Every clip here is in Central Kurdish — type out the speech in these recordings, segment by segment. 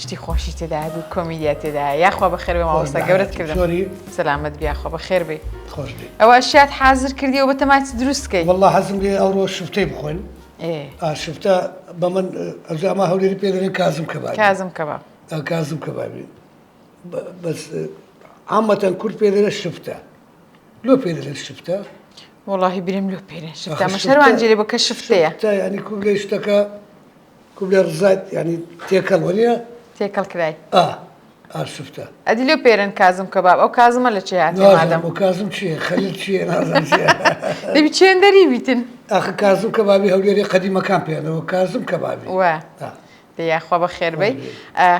شتی خۆشی تێدا هەبوو کۆمیدیا تێدا یاخوا بەخێر بێ مامۆستا گەورەت کردم زۆری سەلامەت بیا خۆ بەخێر بێ خۆش بێ ئەوە شات حازر کردیەوە بە تەماچ دروست کەی والله حەزم لێ ئەوڕۆ شفتەی بخۆین ئێ ئا شفتە بە من ئەجا ئەما هەولێری پێ دەڵێن کازم کەبابی کازم کەباب ئا کازم کەبابی بە- بەس عامەتەن کورد پێ دەڵێ شفتە لۆ پێ دەڵێن شفتە وەڵاهی بریم لۆ پێرێن شفتە آخر مە شفتە- شەروان جێرێ بۆ کە شفتەیە شفتە یعنی کوو بلێ شتەکە کوبلای ڕزایت یانی تێکەڵ وەنیە تێکەڵ کرای ئا ئاسفتە ئەدی لێ پێرن کازم کە باب ئەو کازمە لە چێ هاتی مادەم و کازم چێ خەلیل چێ دەبی چێن دەری بیتن ئاخ کازم کە بابی هەولێری قەدیمەکان پێێنەوە کازم کە بابی وە یاخوا بە خێربەی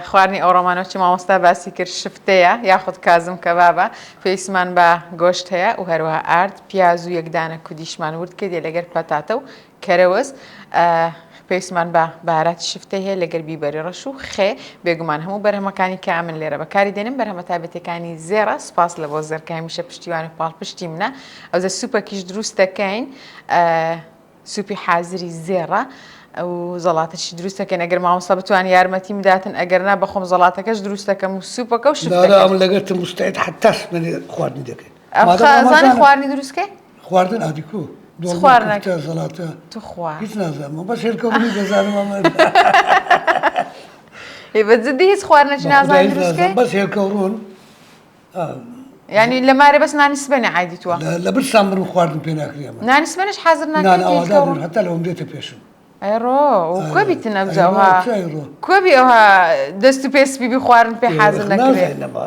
خوارنی ئەو ڕۆمانۆچی مامۆستا باسی کرد شفتەیە یاخود کازم کە بابە پێیسمان بە گۆشت هەیە و هەروە ئارد پیاز و یەکدانە کودیشمان ورد کردێ لەگەر پەتاتە و کەرەوز، ئە، پێویستمان بە بەهاراتی شفتەی هەیە لەگەل بیبەری ڕەش و خێ، بێگومان هەموو بەرهەمەکانی کە ئەمن لێرە بەکاری دێنم بەرهەمە تایبەتیەکانی زێڕە، سوپاس لە بۆس زێر کە هەمیشە پشتیوان و پاڵپشتی منە، ئەوجە سوپەکیش دروست دەکەین، ئە، سوپی حازری زێڕە، و زەڵاتەشی دروست دەکەین ئەگەر مامۆستا بتوانن یارمەتیم بداتن ئەگەر نا بەخۆم زەڵاتەکەش دروست دەکەم و سوپەکە و شفتەکەش. دارا ئەمن لەگەلتم مستعد حەتا سمێنێ خواردنی دەکەین. ئە، خا، زانی خواردنی دروست کەی؟ خواردن ئادی کو سخوار نەکە زەڵاتە توخوا هیچ نازانم بەس هێلکە بنی دەزانم ئەمە هی بە جدی هیچ خوار نەچ نازانم دروستکەی بەس هێلکە ڕوون ینی لە مارە بەس نانی سبێنە عادی تووە لە بر سام بر خواردن پێ ناکرێم نانی سبێنش حەزر ناکەن هەتا لەم دێتە پێشم ئەڕۆ کوبی تنەبجەوە کوبی ئەوها دەست و پێسپی بخوارن پێ حەزر نەکرێت لەمە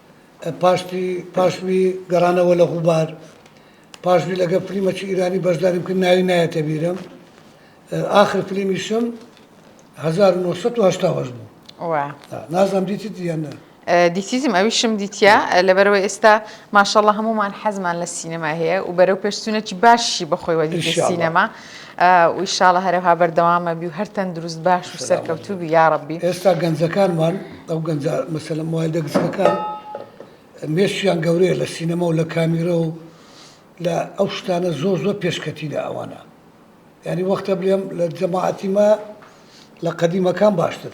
پاشتی پاشوی گەڕانەوە لە غوبار پاشوی لەگە فلیمەکی ئیرانی بەشداریم کرد ناوی نایەتە بیرم ئاخر فلیمیشم 1970 بوو نازم دیتی دیەنە دیتیزم ئەویشم دیتە لەبەرەوە ئێستا ماشەڵە هەمومان حەزمان لە سینەما هەیە و بەرەو پێشچوونەکی باشی بەخۆی وەدی سینەما ویشاڵە هەرەها بەردەوامەبی و هەر تەندروست باش و سەرکەوتوبی یاڕەبی ئێستا گەنجەکانمان ئەو گەنج مەسەلم وای دەگزەکان مێشیان گەورەیە لە سینەما و لە کامیرە و لە ئەو شتانە زۆر زۆر پێشکەتی لە ئەوانە ینی وەختە بلێم لە جەماعەتی ما لە قەدیمەکان باشتر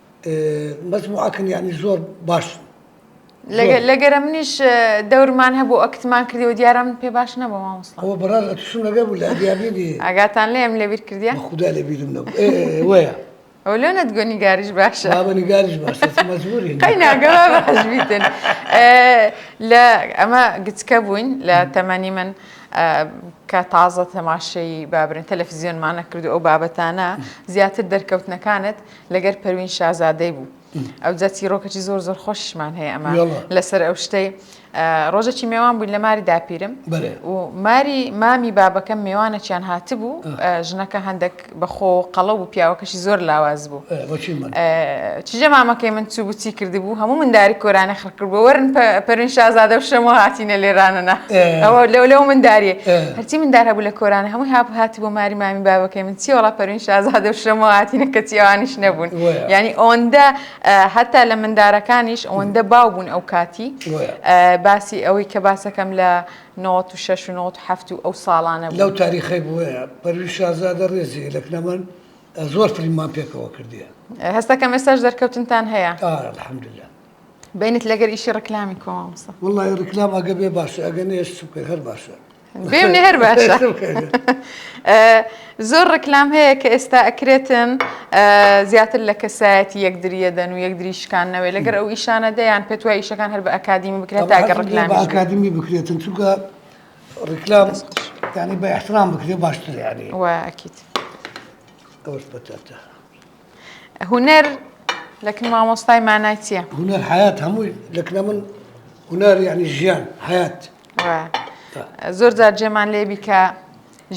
بەس موعکن یعنی زۆر باشن لەگەرە منیش دەورمان هەبوو ئەکتمان کردی و دیارە من پێ باش نەبوو مامۆستا ئەوە بەڕاز ئەتوشم لەگە بوو لە دیابیدی ئەگاتان لێم لەبیر کردیان خدا لەبیرم نەبوو وەیە ئەو لە نەتگۆ نیگاریش باشە بابە نیگاریش باشە مەزبوری قەی ناگەوا بەحزبیتن لە ئەمە گچکە بووین لە تەمەنی من کە تازە تەماشەی بابرن تەلەفزیۆنمانە کرد ئەو بابەتانە زیاتر دەرکەوتنەکانت لەگەر پەروین شازادەی بوو ئەوجا چیرۆکەی زۆر زۆر خۆشمان هەیە ئەمە لەسەر ئەو شتەی ڕۆژەکی مێوان بووین لە ماری داپیرم و ماری مامی بابەکەم مێوانەکیان هاتبوو ژنەکە هەندێک بەخۆ قەڵە و پیاوەکەشی زۆر لاواز بوو چجە مامەکەی من چوو بچی کردبوو هەموو منداری کۆرانە خڕ قوربوورن پەروین شازادە و شەمۆ هاتینە لێرانەنا ئەوە لەو لەو منداریە هەرچی مندار هەبوو لە کۆرانە هەمووی هاپ هاتی بۆ ماری مامی بابەکەی من چیوەڵا پەروین شازادە و شەمۆ هاتینە کە چیوانیش نەبوون ینی ئەوەندە هەتا لە مندارەکانیش ئەوەندە باو بوون ئەو کاتی باسی ئەوەی کە باسەکەم لە نۆت و شش و نۆت هەفت و ئەو ساڵانە لەو تاریخی بووە پەروی شازادە ڕێزی لەک نەمەن زۆر فلیمان پێکەوە کردیە هەستەکەم ئێستاش دەرکەوتنتان هەیە الحمدلله بینت لەگەر ئیشی ڕکلامی کۆ مامۆستا واللە ڕکلام ئەگە بێ باشە ئەگە نێش سوکە هەر باشە بێمنێ هەر باشە زۆر ڕکلام هەیە کە ئێستا ئەکرێتن زیاتر لە کەسایەتی یەکدریە دەن و یەکدری شکانەوەی لەگەر ئەو ئیشانە دەیان پێت وای ئیشەکان هەر بە ئەکادیمی بکرێت تاگە ڕکلام ئەکادیمی بکرێتن چونکە ڕکلام ینی بە احترام بکرێ باشتر یاری وەکیت ئەوش بەتەتە هونەر لەکن مامۆستای مانای چییە؟ هونەر حەیات هەمووی لەکنە من هونەر یعنی ژیان حەیات زۆر جار جێمان لێبی کە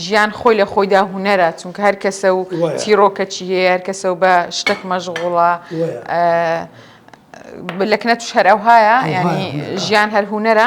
ژیان خۆی لە خۆیدا هونەرە چونکە هەر کەسە و چیرۆکەچی هەیە هەر کەسە و بە شتێک مەژغوڵە لەکنە توش هەر ئەوهایە ینی ژیان هەر هونەرە؟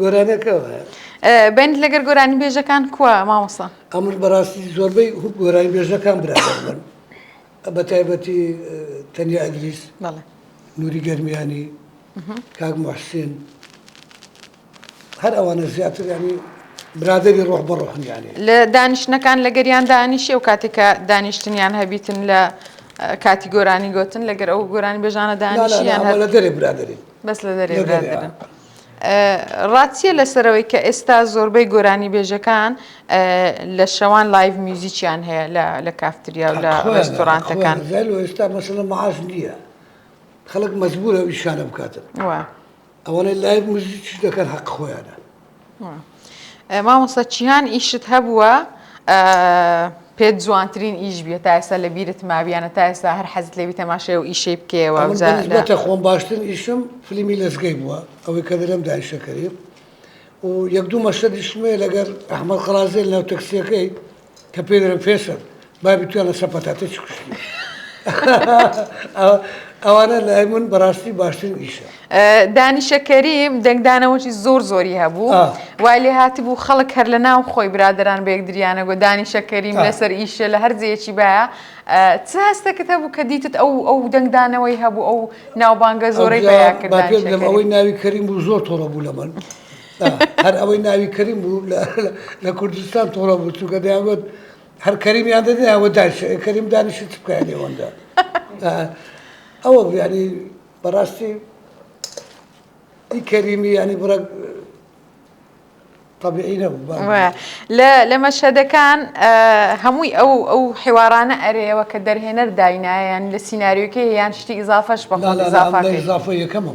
گۆرانەکەوایە بند لەگەر گۆرانی بێژەکان کووە مامۆسا ئەمر بەڕاستی زۆربەی گۆرانی بێژەکان برا بە تایبەتی تەنیا ئەدریس نوری گەرمیانی کاک محسین هەر ئەوانە زیاتر ینی برادری ڕۆح بە ڕۆحنیانی لە دانیشتەکان لە گەریان دانیشی و کاتێکە دانیشتنیان هەبیتن لە کاتی گۆرانی گوتن لەگەر ئەو گۆرانی بێژانە دانیشیان لە دەرێ برادری بەس لە دەرێ برادرن. ڕاتیە لەسەرەوەی کە ئێستا زۆربەی گۆرانی بێژەکان لە شەوان لایڤ میوزیکیان هەیە لە کافتریا و لە ڕێستۆرانتەکان ئێستا مەسەلە معاش نییە خەڵک مەزبوور ئەوی شانە بکاتن ئەوانەی لایڤ میوزیک دەکەن حەق خۆیانە مامۆستا چیان ئیشت هەبووە پێت جوانترین ئیش بیە تا ئێستا لە بیرت مابیانە تا ئێستا هەر حەزت لێبی تەماشای و ئیشەی بکەوە بەتە خۆم باشترین ئیشم فلیمی لەزگەی بووە ئەوەی کە دەرم دایشەکەی و یەک دوو مەشەدیشمێ لەگەر ئەحمە قەازێل ناو تەکسیەکەی کە پێ دەرم فێسەر بابی تویا لە سە پەتاتە چ کوشتی ئەوانە لای من بەڕاستی باشتر ئیشە دانیشەکەریم دەنگدانەوەی زۆر زۆری هەبوو وای لێ هاتی بوو خەڵک هەر لە ناو خۆی برادران بەیەکدریانە گۆ دانیشەکەریم لەسەر ئیشە لە هەرزیەکی باە چ هەستەکەت هەبوو کە دیتت ئەو ئەو دەنگدانەوەی هەبوو ئەو ناوبانگە زۆرەی بەیاکرد ئەوەی ناوی کەریم بوو زۆر تۆڕە بوو لە من. هەر ئەوەی ناوی کەریم بوو لە کوردستان تۆڵە بوو چونکە دەیانگوت هەر کەریمیان دەدێ ئەوە داش کەریم دانیشی چ بکەیان لێوەندا ئەوە بیانی بەڕاستی ئی کەریمی ینی بڕە طبیعی نەبوو لە مەشهدەکان هەمووی ئەو ئەو حێوارانە ئەرێەوە کە دەرهێنەر داینایان لە سینناریوکە یان شتی ئیزافەش بە ئیزافە یەکەمە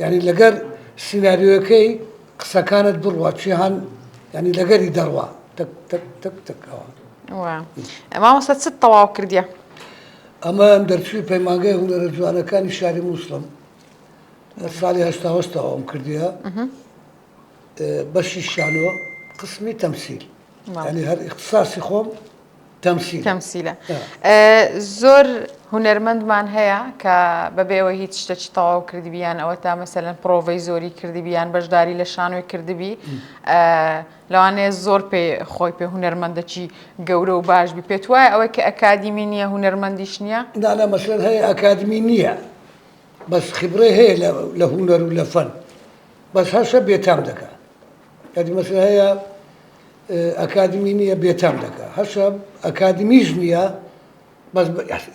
یانی لەگەر سیناریۆیەکەی قسەکانت بڕوا چیهان یانی لەگەری دەڕوا تەک تەک تەک تەک ئەوە وە مامۆستا چت تەواو کردیە ئەمەیان دەرچووی پەیمانگای هونەرە جوانەکانی شاری مووسڵم لە ساڵی هەشتاوەشتەوەم کردیە بەشی شانۆ قسمی تەمسیل یعنی هەر ئیختساسی خۆم تەمسیل تەمسیلە زۆر هونەرمەندمان هەیە کە بەبێەوە هیچ شتەکی تەواو کردبییان ئەوە تا مەسەن پرۆڤەی زۆری کردبییان بەشداری لە شانۆی کردبی لەوانەیە زۆر پێ خۆی پێ هونەرمەندەکی گەورە و باش بی پێت وایە ئەوەی کە ئەکادیمی نییە هونەرمەندیش نییە دانا مەسەر هەیە ئەکادمی نییە بەس خبرەی هەیە لە هونەر و لە فەن بەس هەسە بێتام دەکا ئەدمەسە هەیە ئەکادمی نییە بێتام دەکا هەسە ئەکادمیش نییە بەس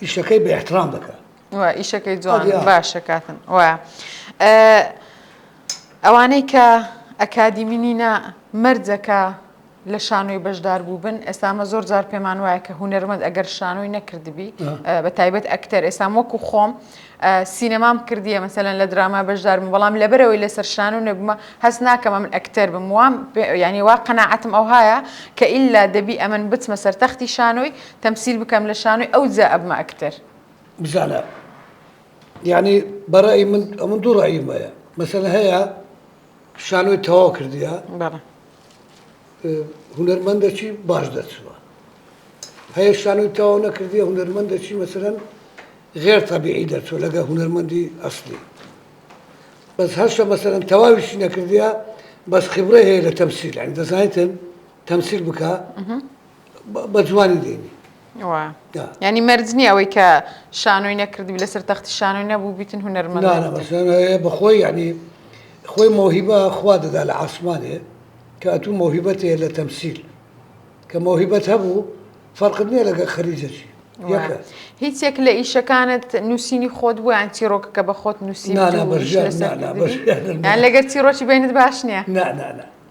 ئیشەکەی بە احترام دەکا ئیشەکەی جوان باشە کاتن وە ئەوانەی کە ئەکادیمینینە مەرجەکە لە شانۆی بەشدار بووبن ئێستا ئەمە زۆر جار پێمان وایە کە هوەرمەند ئەگەر شانۆی نەکردبی بە تایبەت ئەکتەر ئێسام وەکو خۆم سینەمام کردیە مەسەن لە دراما بەشدارم بەڵام لەبەرەوەی لەسەر شان و نەبمە هەست ناکەم من ئەکتەر بم وام ینی وا قەنەعەتم ئەو هاە کە ئللا دەبی ئەمن بچمە سەر تەختی شانۆی تەمسیل بکەم لە شانۆی ئەو جا ئەبمە ئەکتەر بزانە یعنی بەڕی من ئەمن دوو ڕایمەیە مەسەن هەیە شانۆی تەواو کردیە بەڵێ هونەرمەندەکی باش دەچووە هەیە شانۆی تەواو نەکردیە هونەرمەندەکی مەسەرەن غێر تەبیعی دەچوو لەگە هونەرمەندی ئەسلی بەس هەشە مەسەرەن تەواویشی نەکردیە بەس خبرە هەیە لە تەمسیل ئەنگ دەزانیتن تەمسیل بکە بە جوانی دێنی وا ینی مەرج نییە ئەوەی کە شانۆی نەکردبی لەسەر تەختی شانۆی نەبوو بیتن هوەرمە بەخۆی ینی خۆی مۆهیبە خوا دەدا لە ئاسمانێ کە ئەتوو مۆهیبەت هەیە لە تەمسیل کە مۆهیبەت هەبوو فەرقت نییە لەگە خەریجەچی هیچ یەک لە ئیشەکانت نووسینی خۆت بوویان چیرۆکەکە بە خۆت نووسی لەگەر چیرۆکی بینت باش نییە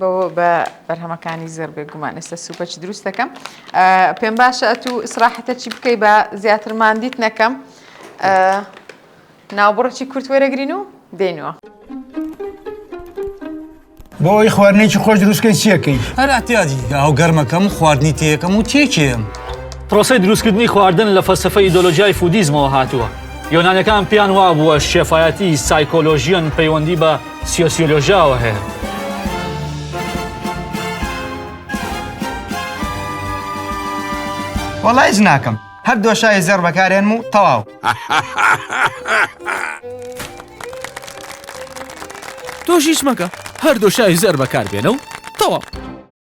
بەوە بە بەرهەمەکانی زێڕ بێ گومان ئێستا سوپەچ دروست دەکەم پێم باشە ئەتو سراحەتە چی بکەی بە زیاتر مادیت نەکەم ناوبڕچی کورت وەرەگرین و دێنەوە. بۆ ئەوی خواردنێکی خۆش دروستکەی چیەکەی هەر ئەتیادی ئەو گەرمەکەم خواردنی تێەکەم و تێکێم پرۆسی دروستکردنی خواردن لە فەلسفە ئیدۆلۆژیای فودیزمەوە هاتووە یۆنانەکان پێیان وا بووە شێفایەتی سایکۆلۆژیەن پەیوەندی بە سیۆسیۆلۆژیاوە هەیە. وەڵا هیچ ناکەم هەر دۆشای زێڕ بەکارێنم و تەواو تۆش هیچ مەکە هەر دۆشای زێر بەکاربێنە و تەواو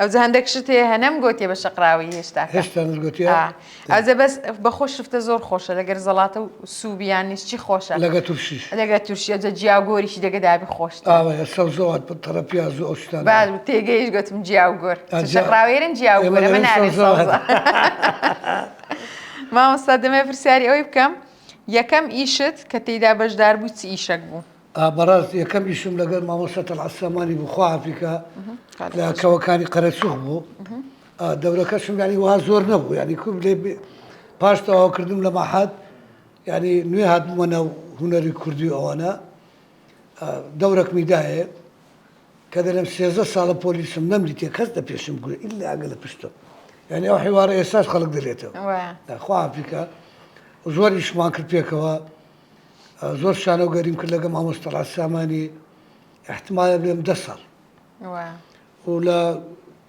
ئەوجە هەندێک شت هەیە هەنەم گۆتیە بە شەقراوی هێشتا هێشتا گوتی ئەوجە بەس بەخۆ شفتە زۆر خۆشە لەگەر زەڵاتە و سووبیان نیشتی خۆشە لەگە تورشی لەگە تورشیە جە جیا گۆریشی دەگەدابی خۆش سەوزەوات تەڕە پیاز و ئەوشتان تێگەیش گوتم جیا و گۆر شەقراوێرن جیا و گۆرە من نارێ مامۆستا دەمێ پرسیاری ئەوی بکەم یەکەم ئیشت کە تێیدا بەشدار بوو چ ئیشەک بوو بەڕاست یەکەم ئیشم لەگەر مامۆستا تەڵعەت سامانی بوو خوا عەفی کا لە کەوەکانی قەرەچوخ بوو دەورەکەشم یانی وها زۆر نەبوو یانی کوم لێ پاش تەواو کردم لە مەحەد یانی نوێ هاتمە ناو هونەری کوردی ئەوانە دەورەکمی دایێ کە دەلم سێزە ساڵە پۆلیسم نەمدیتێ کەس دە پێشم گوێ ئیلا ئەگە لە پشتم یعنی ئەو حیوارە ئێساش خەڵک دەلێتەوە خوا عەفی کا زۆر ئیشمان کرد پێکەوە زۆر شانۆ گەریم کرد لەگەم مامۆستا ڕاز سامانی احتمالە بێم دە ساڵ و لە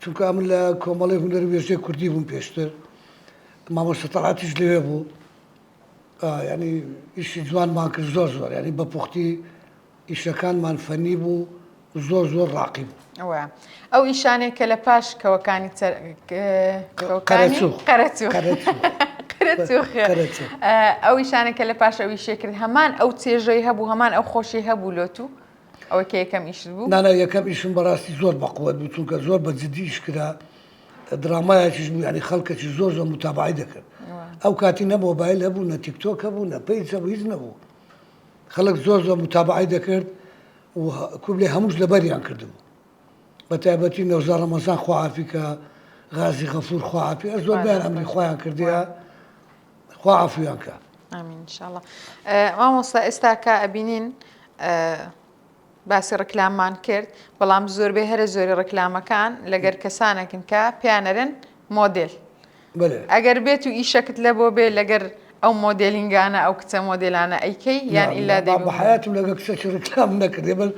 چونکە من لە کۆمەڵی هوەر وێژێ کوردی بووم پێشتر مامۆستا تەڵاتیش لەوێ بوو ینی ئیشی جوانمان کرد زۆر زۆر ینی بە پوختی ئیشەکانمان فەنی بوو زۆر زۆر ڕاقی بوو. وە ئەو ئیشانەی کە لە پاش کەوەکانی ئەو ئیشانە کە لە پاش ئەوی شێکرد هەمان ئەو چێژەی هەبوو هەمان ئەو خۆشی هەبوو لۆت و ئەوە کە یەکەم ئیش بوو نانا یەکەم ئیشم بەڕاستی زۆر بەقوت بوو چونکە زۆر بە جدیش کرا درامایکیش بوو ینی خەڵکەکی زۆر زۆر متابعی دەکرد ئەو کاتی نە مۆبایل هەبوو نە تیکتۆک هەبوو نە پێی هیچ نەبوو خەڵک زۆر زۆر موتابەعەی دەکرد و کوبلێ هەمووش لەبەریان کردبوو بە تایبەتی نەوزا ڕەمەزان خواعافی کە غازی غەفور خواعافی ئە زۆر بیان ئەمری خۆیان کردیا خواعافیان کە ئامین شاء الله مامۆستا ئێستا کە ئەبینین باسی ڕیکلاممان کرد بەڵام زۆربەی هەرە زۆری ڕیکلامەکان لەگەر کەسانەکن کە پیانەرن مۆدێل ئەگەر بێت و ئیشەکت لە بۆ بێ لەگەر ئەو مۆدێلینگانە ئەو کچە مۆدێلانە ئەیکەی یان ئیلا دێ بە حیاتم لەگە کچەکی ڕیکلام نەکردێ بەر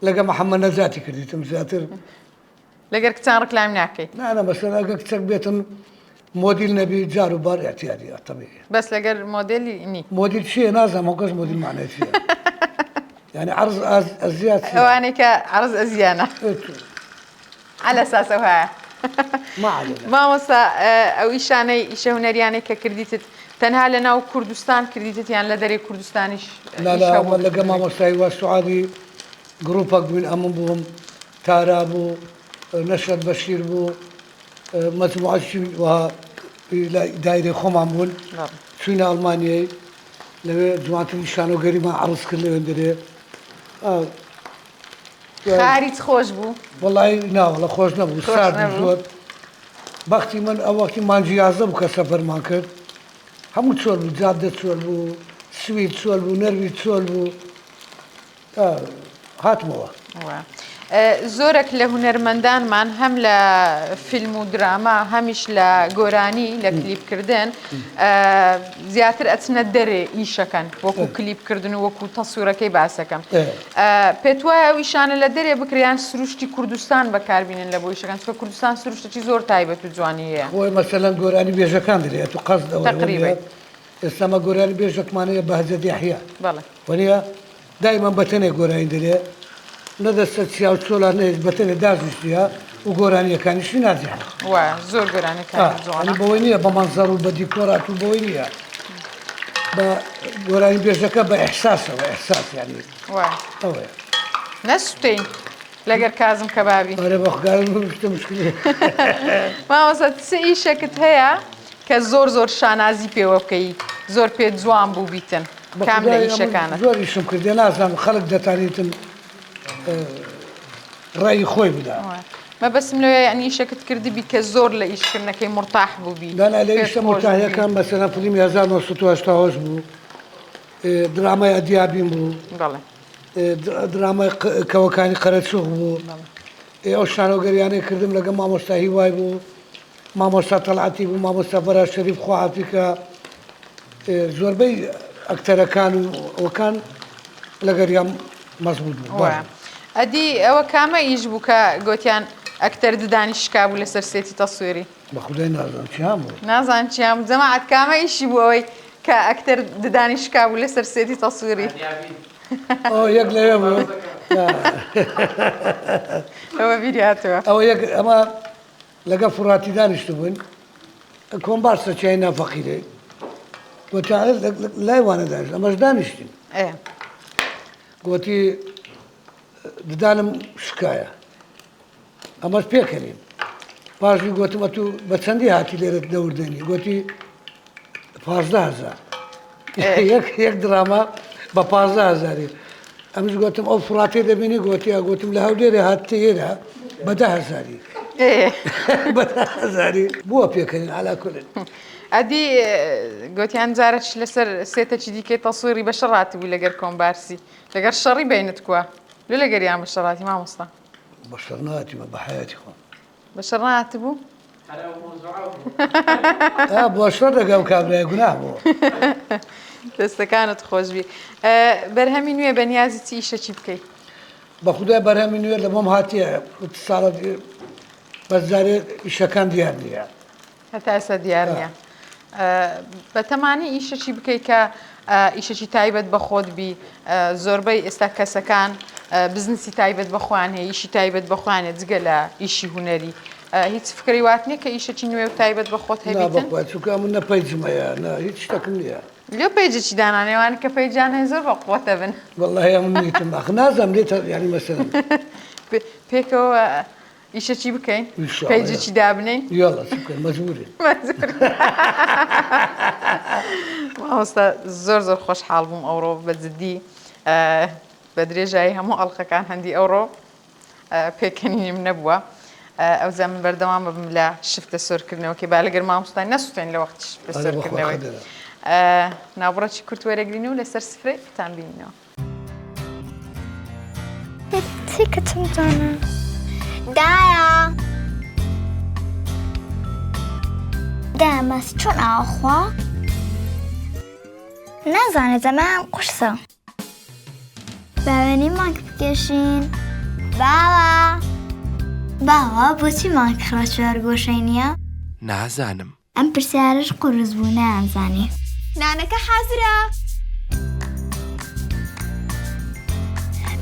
لەگە محەممەد نەجاتی کردیتم زیاتر لەگەر کچان ڕکلایم ناکەیت نانە بەسەراگە کچەک بێتم مۆدیل نەبی جار و بار اعتیادی ئەتەبی بەس لەگەر مۆدلی نی مۆدیل چیە نازم و گەز مۆدیل مانای چیە یعنی عرض ئەزیات ئەوانەی کە عرض ئەزیانە على ساسە هەیە مامۆسا ئەو ئیشانەی ئیشە هوەریانەی کە کردیتت تەنها لە ناو کوردستان کردیتیان لە دەرێ کوردستانیش لەگە مامۆستای وە سوعادی گرروپەک بووین ئەمن بووم تارا بوو، نەشەد بەشیر بوو، مەجموعەشی وەها لای دایرەی خۆمان بوون، چووینە ئەڵمانیای لەوێ جوانترین شانۆگەریمان عەڕز کرد لەوێندەرێ. خاریت خۆش بوو وڵی ناوەڵە خۆش نەبوو سارد زۆر بەختی من ئەوەکی مانجی یازە بوو کە سەفەرمان کرد هەموو چۆل بوو جادە چۆل بوو سویر چۆل بوو نەروی چۆل بوو هاتمەوە. زۆرێک لە هونەرمەندانمان هەم لە فیلم و دراما هەمیش لە گۆرانی لە کلیپکردن زیاتر ئەچنە دەرێ ئیشەکەن وەکو کلیپکردن و وەکو تەسوورەکەی باسەکەم پێت وایە ئەویشانە لە دەرێ بکریان سروشتی کوردستان بەکاربیێن لە بۆیشەکان چکە کوردستان سروشتێکی زۆر تایبەت و جوانی هەیە بۆی مەسەلەن گۆرانی بێژەکان دەێت و قەز دەوەڕێت. ئێستا ئەمە گۆرانی بێژەکمانە یە بەهجەت یەحیا بەڵێ. وەنیە دایمەن بەتەنێ گۆرانی دەلێ نە دەستە چیا و چۆلا نە هێچ بەتەنێ داژشتیە و گۆرانیەکانیشی نازیحە وایە زۆر گۆرانەکە ئا ئەنی جوانە بەوەی نییە بە مەنزەر و بە دیکۆرات و بەوەی نییە بە گۆرانی بێژەکە بە ئیحساسەوە ئیحساس یانی وایە ئەوەیە نەسوتین لەگەر کازم کەبابی بەرە بەخگارن بشتە مشکلی ماوەسە چ ئیشەکت هەیە کە زۆر زۆر شانازی پێوە بکەی زۆر پێت جوان بوو بیتن کام لە ئیشەکانت. زۆر ئیشم کردە نازانم خەلک دەتانیتن ڕەئی خۆی بدا. مەبەستم لەوەیە یەعنی ئیشەکت کردبی کە زۆر لە ئیش کردنەکەی مورتاح بووبی. دانا لە ئیشە مورتاحیەکان مەسەلەن فلیمی هەزار و نۆ سەد و هەشتا و هەشت بوو درامای ئەدیابیم بوو بەڵێ درامای کەوەکانی قەرەچوخ بوو ئێ ئەو شانۆگەریانەی کردم لەگەڵ مامۆستا هیوای بوو. مامۆستا تەڵعەتی بوو مامۆستا فەرا شەریف خۆعافی کە زۆربەی ئەکتەرەکان و ئەوکان لەگەریان مەزبوط بوو ئەدی ئەوە کامە ئیش بوو کە گوتیان ئەکتەر ددانی شکابوو لەسەر سێتی تەسوێری بە خودای نازان چیان بوو نازان چیان جەماعەت کامە ئیشی بوو ئەوەی کە ئەکتەر ددانی شکابوو لەسەر سێتی تەسوێری یەک لە ئەوە بیریاتەوە ئەوە یەک ئەمە لەگەڵ فوڕاتی دانیشتبووین، کۆمبار سەچیای نا فەقیرەی و چارەز لای وانە دانیشت، ئەمەش دانیشتین. گۆتی ددانم شکایە، ئەمەش پێکەنین. پاشی گۆتم ئەتوو بە چەندی هاتی لێرە دەوردێنی؟ گۆتی پازدە هەزار یەک دراما بە پازدە هەزاری ئەمش گوتم ئەو فڕاتێ دەبینی گوتی گوتم لە هەودێرە هاتتە ئێرە بەدە هەزاری بەزاری بووە پێکردن ئالاکردن ئەدی گوتیان جارەش لەسەر سێتەکی دیکەی تەسویری بە شەڕات بوو لەگەر کۆمبارسی لەگەر شەڕی بینت کووە لە لەگەریان بە شەڕاتی مامۆستا بە شەڕناتی بە بەحیاتی خۆم بەشەر ڕاتبوو بۆشۆ دەگەم کابرای گونا بۆ دەستەکانت خۆشبی بەرهەمی نوێ بە نیازی چی ئیشەکی بکەیت بە خودای بەرهەمی نوێ لە بۆم هاتیە ساڵە بەزارێ ئیشەکان دیار نیە هەتا ئێستا دیار نیە بەتەمانی ئیشەکی بکەیت کە ئیشەکی تایبەت بە خۆت بی زۆربەی ئێستا کەسەکان بزنسی تایبەت بەخۆیان هەیە ئیشی تایبەت بەخۆیانە جگە لە ئیشی هوەری هیچ فکری وات نیە کە ئیشەکی نوێ و تایبەت بە خۆت هەبێت چکە من نە پەیجمەیە نە هیچ شتەکم نیە لێ پێجێکی دانانێوان کە پێیجانێ زۆر بە قوتە بن وڵی نازم لێ ینی مەسن پێکەوە ئیشە چی بکەین پێجی چی دابنین مامۆستا زۆر زۆر خۆشحاڵ بووم ئەوڕۆ بە جددی بە درێژایی هەموو ئەڵلقەکان هەندی ئەوڕۆ پێکەنیم نەبووە ئەو زەمن بەردەوام ببم لە شفتە سۆرکردنەوەکەی با لەگەر مامۆستای نەسوتێن لە وەختش بەسەرکردنەوەی ناوبڕەتی کورت وەرەگرین و لەسەر سفرەی تان بینەوە تێکەچم جانە دایە دامەس چۆن ئاخوا نازانێت زەمان قورسە باوێنی مانک بکێشین باوە باوە بۆچی مانکڕە چوار گۆشەی نییە؟ نازانم ئەم پرسیارەش قورس بوو نەیانزانی. نانەکە حازرە.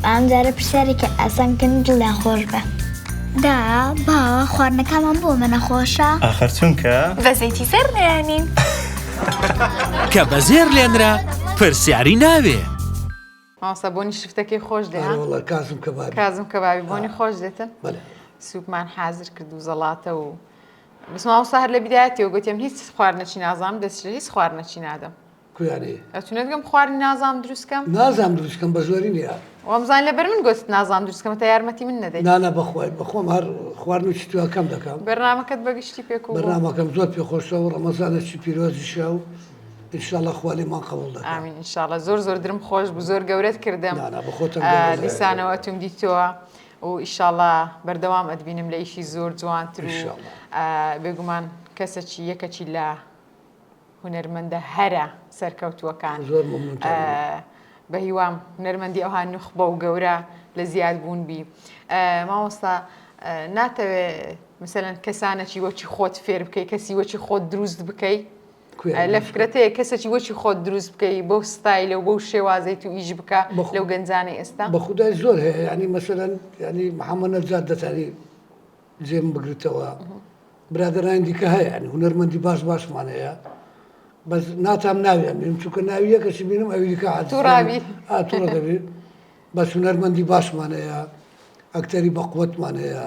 با ئەم جارە پرسیارێکی ئاسان بکەن و دڵیان خۆش بێ. دە با خواردنەکامان بۆ ئەمە نەخۆشە. ئاخر چونکە. بە زەیتی زێڕ نەیانین. کە بە زێر لێنرا پرسیاری ناوێ. مامۆستا بۆنی شفتەکەی خۆش دێ ها؟ ئەرێوەڵا کازم کەبابی. کازم کەبابی بۆنی خۆش دێتن؟ بەلێ. سوپمان حازر کرد و زەڵاتە و بەس مامۆستا هەر لە بیدایەتیەوە گوتم هیچ خواردنەچی نازانم دەست لە هیچ خواردنەچی نادەم کویانێ ئەتونێت گەم خواردنی نازانم دروستکەم نازانم دروستکەم بە زۆری نیە وامزان لەبەر من گوت نازانم دروستکەمە تا یارمەتی من نەدەی نانە بەخوای بەخۆم هەر خواردن و چتوەکەم دەکەم بەرنمەکەت بەگشتی پێک و بەرنمەکەم زۆر پێ خۆشە و ڕەمەزانەکی پیرۆزیشە و انشاءله خوالێ ما قبول دەکەم انشاءله زۆر زۆر درم خۆش بزۆر گەورەت کردم دیسانەوە ئەتوم دیتەوە و ئیشاڵا بەردەوام ئەتبینم لە ئیشی زۆر جوانتر و بێگومان کەسەکی یەکەکی لە هونەرمەندە هەرە سەرکەوتووەکان زۆر بە هیوام هونەرمەندی ئەوها نوخبە و گەورە لە زیاد بوون بی مامۆستا ناتەوێ مثلەن کەسانەکی وەکی خۆت فێر بکەی کەسی وەکی خۆت دروست بکەی لە فکرەتەیە کەسێکی وەکی خۆت دروست بکەی بۆ ستایلە و بۆ شێوازی تو ئیش بکە لەو گەنجانی ئێستا بە خودای زۆر هەیە ینی مەسەرەن ینی محەممەە جات دەتانی جێم بگرتەوە برادرانی دیکە هەیە هونەرمەندی باش باشمان هەیە بەس ناتام ناویان بیم چونکە ناوی یەکەشی بینم ئەویکە ئاتوڕاوی ئاتوڕدەبێت بەس هونەرمەندی باشمان هەیە ئەکتەری بەقوتمان هەیە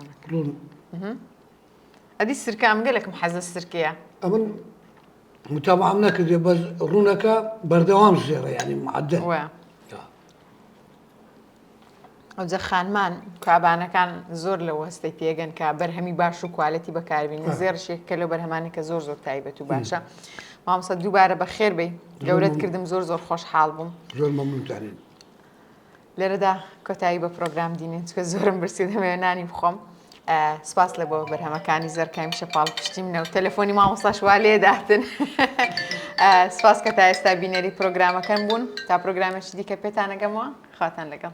ئەدی سرکە ئەم گەلێکم حەزە سرکەیە ئەمن متابعام نەکردێ بەس ڕوونەکە بەردەوام زێڕە ینی معدە ئەوجە خانمان کابانەکان زۆر لە وەستەی پێگەن کە بەرهەمی باش و کوالەتی بەکاربین زێڕشێک کە لە بەرهەمانی کە زۆر زۆر تایبەت و باشە مامسە دووبارە بە خێر بی گەورەت کردم زۆر زۆر خۆشحاڵ بووم زۆر مەمنتانین لێرەدا کۆتایی بە پرۆگرام دینین چکە زۆرم برسی دەمەوێ نانی بخۆم سپاس لە بۆ بەرهەمەکانی زەرکایم شەپاڵ پشتی منە و تەلەفۆنی مامۆستاش وا لێداتن سپاس کە تا ئێستا بینەری پرۆگرامەکەم بوون تا پرۆگرامێکی دیکە پێتانەگەمەوە خواتان لەگەڵ.